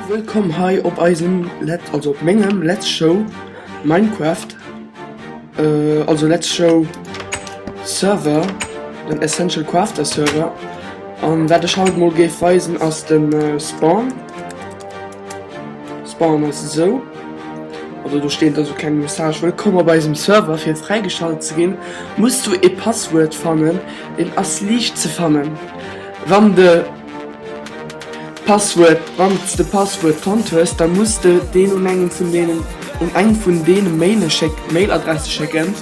Wëllkomm hei op eisem Let also op mengem Let's Show Minecraft äh, also Let's Show Server den Essential Crafter Server an wat ech haut mol géif weisen ass den äh, Spawn Spawn ass so also du steet also keng Message Wëllkomm op eisem Server fir fräigeschalt ze ginn musst du e Passwuert fannen den ass liicht ze fannen wann de Passwuert, Wann s de Passwuert fonnt hues, da muss de deen un eng vun deenen un eng vun deene Mailadresse schécken,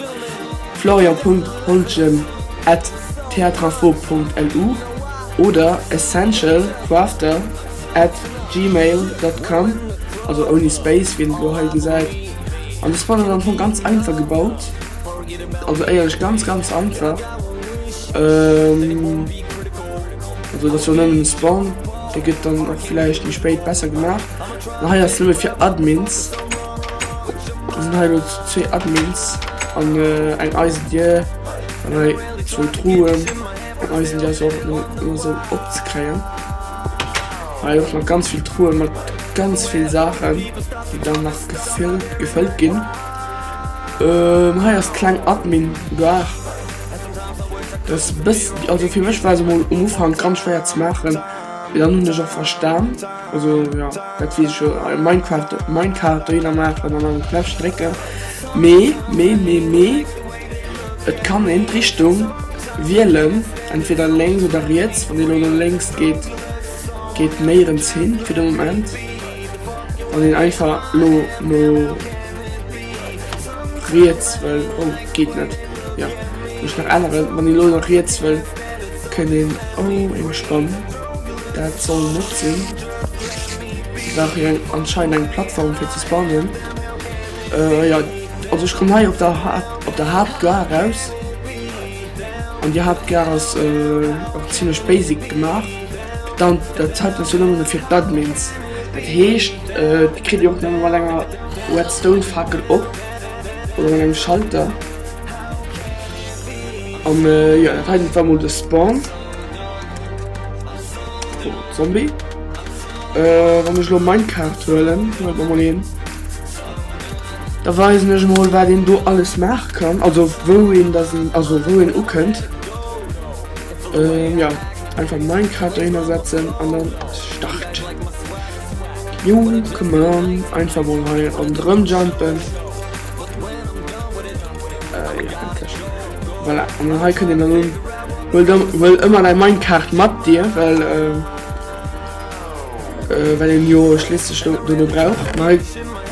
florian.holtgen at theatreinfo Punkt lu oder essential crafter at gmail Dot com, also ouni Space, wéi een et elo hei gesäit. An dës Box ass am Fong ganz einfach gebaut, also éierlech ganz ganz einfach. Ähm, also das war nëmmen Spawn, der gëtt dann auch vielleicht méi spéit besser gemacht. Na hei ass Level fir Admins. Da sind hei zwee Admins an äh, eng Eisen Dir an hei zwou Truhen. Eisen Dir ass auch nur, nur so opzekréien. Hei auch noch ganz viel Truhen mit ganz viel Sachen, die dann noch gefüllt, gefüllt ginn. Ähm, hei ass kleng Admin Bar. Dass bëss also fir mech war se mol um Ufank ganz schwéier ze maachen, mee dann hunn ech och verstan also jo dat weess ech jo Minecraft Minecart dohinner maachen an an d'Fläch drécken mee mee mee mee et kann een d'Richtung wielen entweder lénks oder riets, wann een elo no lénks geet geet méi erëms hin fir de Moment wann een einfach elo no. Riets wëll, oh geet net, jo mech nach änneren, wann ee lo nach riets wëll kënnt een, oh eng Spann, dat soll net sinn, nach eng anscheinend eng Plattform fir ze spannen, jo also ech komm hei op der Haupt op der Hauptgare raus an déi Hauptgare ass och zimmlech basic gemaach, dann dat hat ass jo nëmmen fir d'Admins. Dat heescht et kritt Dir och nëmme mat enger Redstone-Fackel op oder mat engem Schalter. An jo dat heiten war mol de Spawn. Oh, Zombie. Äh, wann ech lo mein Kart huelen, huet man mal een. Da weisen ech mal, wat een do alles machen kann, also wou een da sinn, also wou een ukënnt. Ähm, ja. Einfach Minecraft drinnner setzen an dann Start. Jo, komm an, einfach mal hier an drin jumpen. Äh, ja, endlich. Voilà, und dann hier könnt ihr dann hin. Will, will immer dein Minecraft mit dir, weil, äh, äh, weil den jo schließlich du, du braucht. Nein,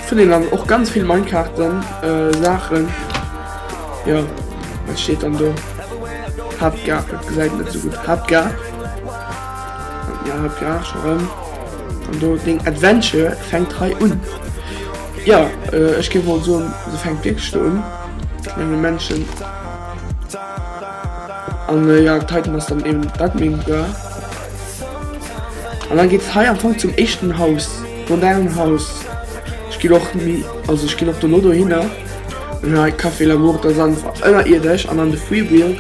finde dann auch ganz viel Minecraft dann, äh, Sachen. Jo wat steet dann do? Haaptgare, dat gesäit net esou gutt. Haaptgare. Ja Haaptgare scho rëm. An do deng Adventure fänkt hei un. Ja äh, ech géif mol soen, se fänkt wierklech do un. Menge Menschen. An äh, ja d'Titan ass dann eben dat meng Bra. An dann geet hei am Fong zum éischten Haus, modernen Haus. Ech ginn och ni, also ech ginn och dono dohinner. Nei Café L'Amour der Sand war ënnerierdesch an an de Freewheel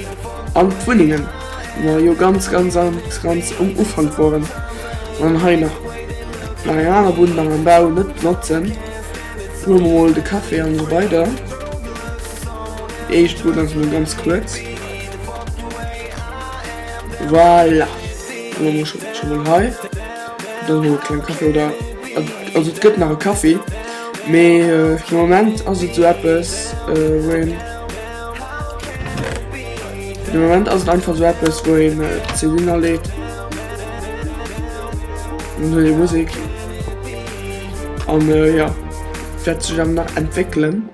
an d'Wunnengen, wou mer jo ganz ganz ganz ganz um Ufank woren an hei nach nach eng aner Bunn nach am Bau net benotzen. Hu mer mol de Café an esou weider. Déi éischt Bunn ass mol ganz kuerz. Voilà, hu mer mol scho mol hei. dann hun ech keng Kaffee oder also et gëtt nach e Kaffee mee fir de Moment ass et sou eppes wou een fir de Moment ass et einfach sou eppes wou een d'CDen erleet an huet ee Musek an jo dat sech awer nach entwéckelen.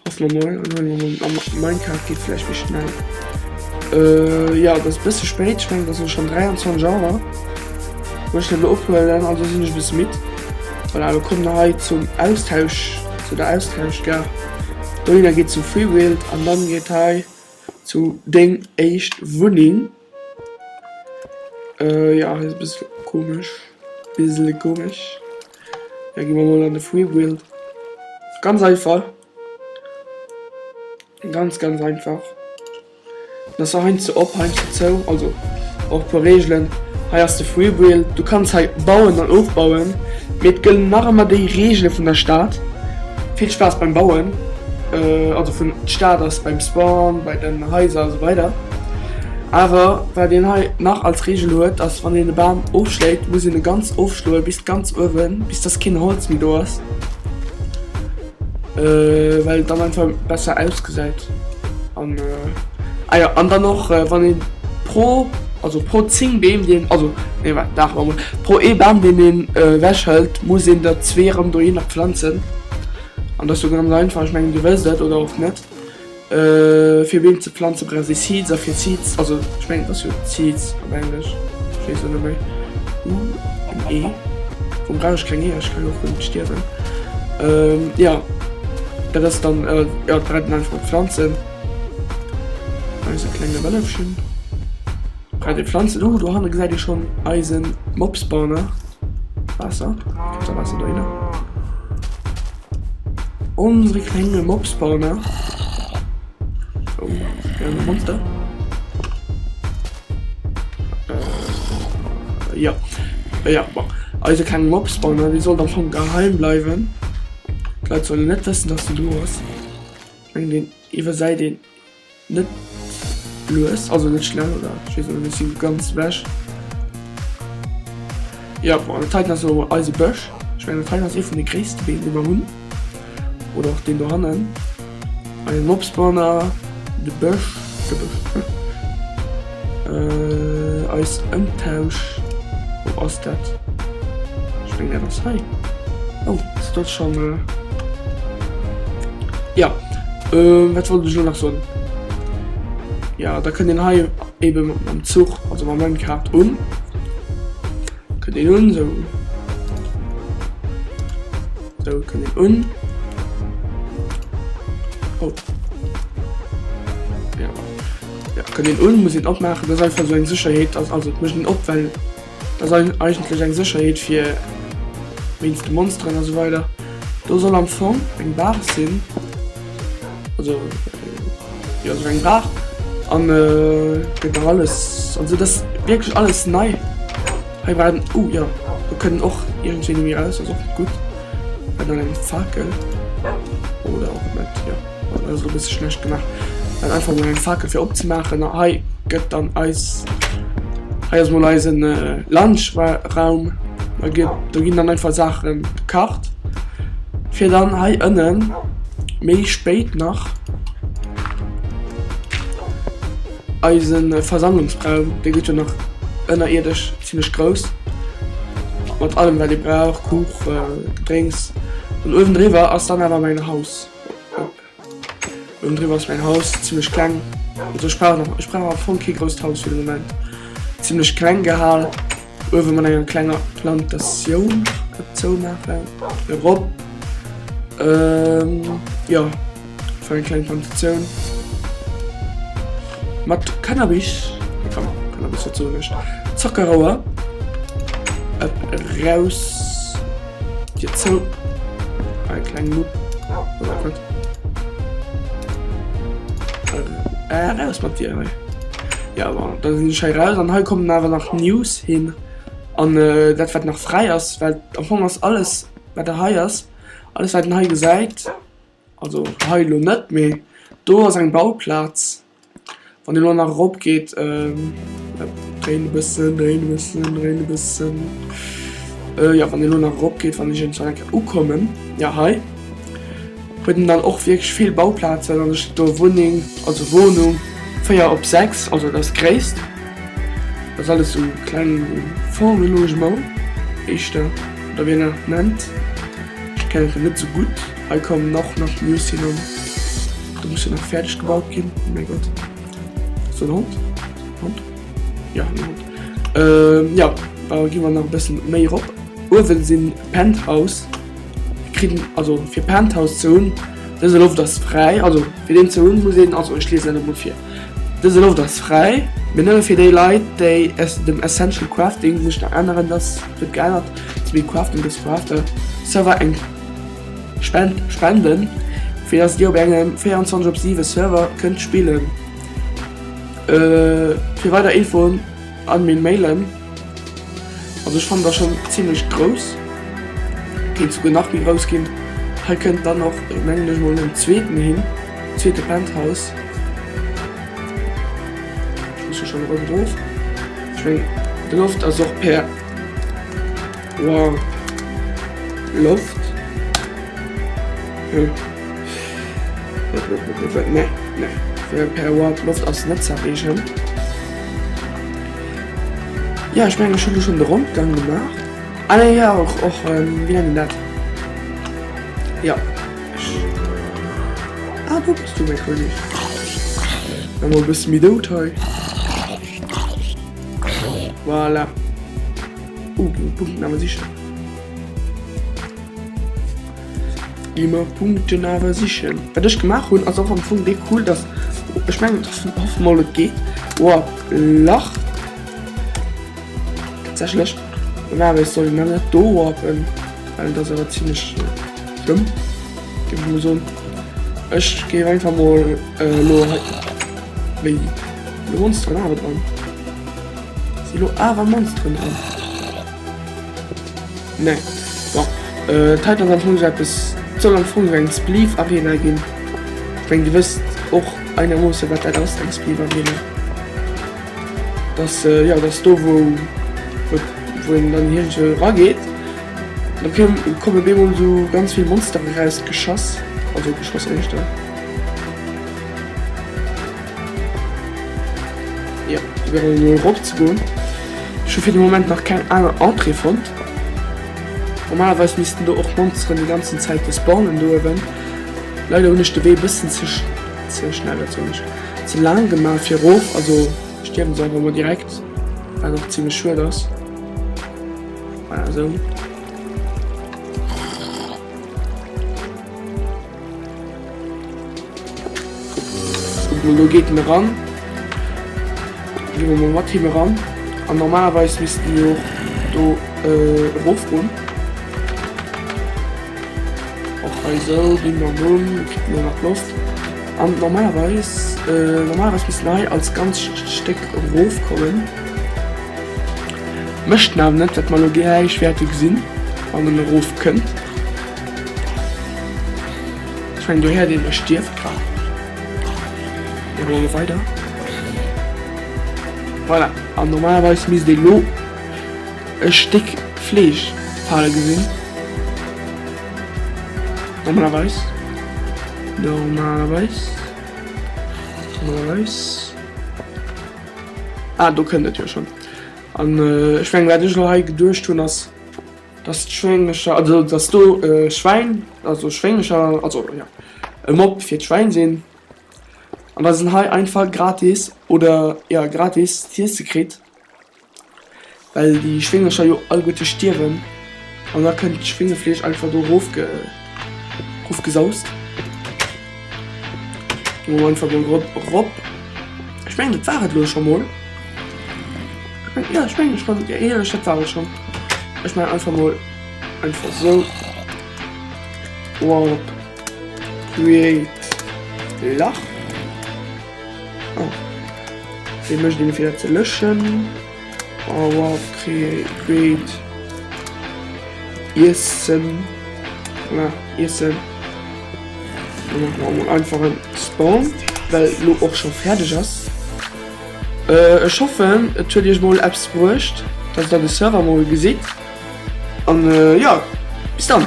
Ass normal an hei mam am Minecart geet vläicht méi schnell. Äh jo dat ass e bësse spéit, ech mengen dat ass schonn 23 Auer wou ech dat elo ophuelen, also sinn ech e bësse midd. Voilà elo kommen der hei zum Austausch zu der Austauschgare. Dohinner geet zum Freebuild an dann geet hei zu deng éischt Wunneng. Euh jo ass e bësse komesch, bissele komesch. Da gi mer mol an de Free Build. Ganz einfach. Ganz ganz einfach. Das war heinz ze op, heinz ze zou, also och paar Regeln. Hei ass de Free Build. Du kannst hei bauen an ofbauen. Mir gëllen nach ëmmer déi Regele vun der Stad. Vill Spaass beim Bauen. Euh also vun d'Stad ass beim Spawn, bei den Haiser a sou weider. Awer wat een hei nach als Regel huet ass, wann een e Bam ofschléit, muss een e ganz ofschloe bis ganz uewen, bis dass keen Holz méi do ass, well et dann einfach besser ausgesäit. An ah jo, an dann och wann een pro, also pro 10 Beem déi een, also nee waart dach mol, pro ee Bam deen een ewech hëlt, muss een der zwee erëm dohinner planzen. An dat ass jo ganz einfach, ech mengen dir wësst et, oder och net. Fir Beem ze planze brauch ee Seeds a fir Seeds, also ech mengen et ass jo Seeds op Englesch, ech weess et net méi, u an e, wuerëm brauch ech keng Eeër, ech kann jo och rëm stierwen. Jo, dat ass dann, jo dat brauch een einfach Planzen, eise klenge Wëllefchen brauch ee Planzen. Oh do hanne gesäit ee schonn eisen Mob-Spawner, Waasser, gëtt da Waasser dohinner. Onsere klénge Mops baut nach. Oh, klénge Monster. Äh, ja. Äh, ja, bon. Eise klénge Mops baut nach. Wie soll dann schon geheim bleiwen? D'Leit sollen net wëssen, dass du do ass. Eng den iwwersäit den Net lues, also net schnell oder ech weess net, ech si ganz ewech. Jo, bon, dat heiten ass jo eise Bësch. Ech mengen, dat heiten ass ee vun de gréisste Beem, déi mer hunn. Oder och deen dohannen, eisen Obstbon a de Bësch, de Bësch. Äh eis Ëmtausch, wou ass dat? Ech meng dat ass hei. Oh ass dat schon äh ja äh wat wollt ech lo nach soen? Ja da kënnt een hei eben mam Zuch also mam Minecart un, kënnt een un sou sou kënnt een un oh. Ja, kënnt een un, muss een opmaachen, dat ass einfach esou eng Sécherheet, dass, also et mécht een op, well dat ass ei, eigentlech eng Sécherheet fir wéinst de Monsteren a sou weider. Do soll am Fong eng Baach sinn, also jo, esou eng Baach an gëtt nach alles, also et ass wierklech alles nei. Hei war en, oh jo, do kënnt och iergendwéini méi eraus, dat ass och gutt, an eng Fakel oder och net, jo. Ech hun bessen schlecht gemacht, well einfach mol eng Fakel fir opzemaachen. A hei gëtt dann eis, hei ass mol eisen Lunchraum. Da gëtt, do ginn dann einfach Saache gekacht, fir dann hei ënnen méi spéit nach eise Versammlungsraum, dee gëtt jo nach ënnerierdesch zimmlech grouss, mat allem wat ee brauch, Kuchen, Gedrénks. An uewendriwwer ass dann awer mäin Haus. Oben driwwer ass mäin Haus zimmlech kleng. Also ech brauch nach, ech brauch am Fong kee grousst Haus fir de Moment. Zimmlech kleng gehal. Uewe mat enger klenger Plantatioun op zoumaachen. Erop. Jo, fir eng kleng Plantatioun. Mat Cannabis, enfin Cannabis, wat soen ech, Zockerauer eraus. Dir zou. Ei ah, kleng Mupp. Äh, raus mat dir hei. Ja, aber da sinn schei raus an hei kommen awer nach News hin. An äh, dat wat nach frei ass, well am Fong ass alles wat der hei ass, alles wat den hei gesäit, also hei lo net méi. Do ass eng Bauplatz, Wann een elo nach erop geet, dréin e bëssen, dréin e bëssen, dréin e bëssen. Äh, ja, wann een elo nach erop geet, wann ech irgendwann eng Kéier ukommen, ja hei, huet en dann och wierklech vill Bauplazen an ech do Wunneng, also Wohnung 4 op 6, also dat ass d'gréisst. Dat ass alles sou kleng Fonds de logement, éischter, oder wéi een dat nach nennt, ech kennen dat net sou gutt. Hei kommen och nach de Justin an. Do muss jo nach fäerdeg gebaut ginn. Oh mäi Gott. Ass dat en Hond? Hond? Ja, en Hond. Ähm, ja, da gi mer nach e bëssen méi erop. Uewen sinn Penthouse. Kritt, also fir Penthouse ze hunn, dëse Loft ass fräi, also fir deen ze hunn, muss een, also ech liesen dat emol vir, Dëse Loft ass fräi, mee nëmme fir déi Leit, déi es dem Essential Crafting sech nach änneren, dass, et gëtt geännert, Smile Crafting This for After Server eng Spend spenden, fir dass dir op engem 24 op 7 Server kënnt spillen. Fir weider Infoen an mir mailen. Also ech fand da schon ziemlech grouss Geet souguer nach méi grouss ginn. Hei kënnt dann och mengen ech mol den zweeten hin, zweete Penthouse. Ech muss jo schon erëm erof. Ech meng de Loft ass och per. Wow. Loft. Nee, nee. Per Watt Loft ass net zerreegen. Ja ech menge schon schon de Rondgang gemacht. Ah, nee, ja och och ähm, wie dat. Ja. Ah, du bist du mé König. Emmer bis mi dout hei. Voilà. Oh, den Punkt aber sicher. Immer Punkten aber sicher. Was ich gemacht habe, also am Funk echt cool, dass ich meine, dass ein paar Mal geht. Oh, Lach. Tatsächlich. Und aber ich soll meine da warpen, weil das aber ziemlich äh, schlimm. Gib mir so. Ich gehe einfach mal äh, nur. Wegen. Du wohnst dran, aber dran. Si lo awer Monsteren dran? Nee. Bon. Äh, d'Heit ass am Fong esou eppes, d'soll am Fong esou eng Spleef Arena ginn. Ech meng, Dir wësst och einermoosse wat dat ass, eng Spleef Arena. Dat ass, jo, dat ass do, wou, wou, wou een dann iergendwou erageet. Da koum, kommen op eemol esou ganz vill Monsteren erausgeschoss, also geschoss éischter. Jo, ech wär elo erop ze goen. Ech hu fir de Moment nach keng aner Entrée fonnt. Normalerweis missten do och Monsteren déi ganzen Zäit do spawnen do uewen. Leider hunn ech de Wee e bëssen ze ze schnell, wat soen ech, ze laang gemaach fir erof. Also stierwen se einfach mol direkt, wat och zimmlech schued ass. Voilà, esou. Lo geet en eran. Gi mer mol mat him eran. An normalerweis missten mir och do erofgoen. Och hei esou, gi mer Mumm, kritt mir nach Loft. An normalerweis, normalerweis misst en hei als ganzt Stéck erofkommen. Mécht en awer net, wat mer elo gläich wäerte gesinn, wann en erofkënnt. Ech mengen do he'ert een e Stierfgraf. Mir goe lo weider. Voilà, an normalerweis misst een lo e Stéck Fleesch fale gesinn. Normalerweis. Normalerweis. Normalerweis. Ah, do kënnt et jo schon. An ech mengen, wat ech lo hei geduecht hun, ass Dass d'Schwénglecher, also dass do e Schwäin, also Schwénglecher, also jo, e Mob fir d'Schwäin sinn an dass en hei einfach gratis oder jo gratis z'iesse kritt, well déi Schwénglecher jo alleguerte stierwen an da kënnt d'Schwéngefleesch einfach do erof ge. Ruf gesaust. Lo einfach den Drop rop. Ich mein, das war es lo schon mal. Ja, ich mein, schon, ja, ja, das war es schon. Ich mein, einfach mal, einfach so. Warp. Create. Lach. Oh. Den möchte ich wieder zu löschen. Power Create Iessen na, Iessen einfach en Spawn, well lo och schon fertig ass. Äh, ech hoffen et huet Iech mol Apps bruecht, dass der de Server mol gesitt an äh, ja bis dann.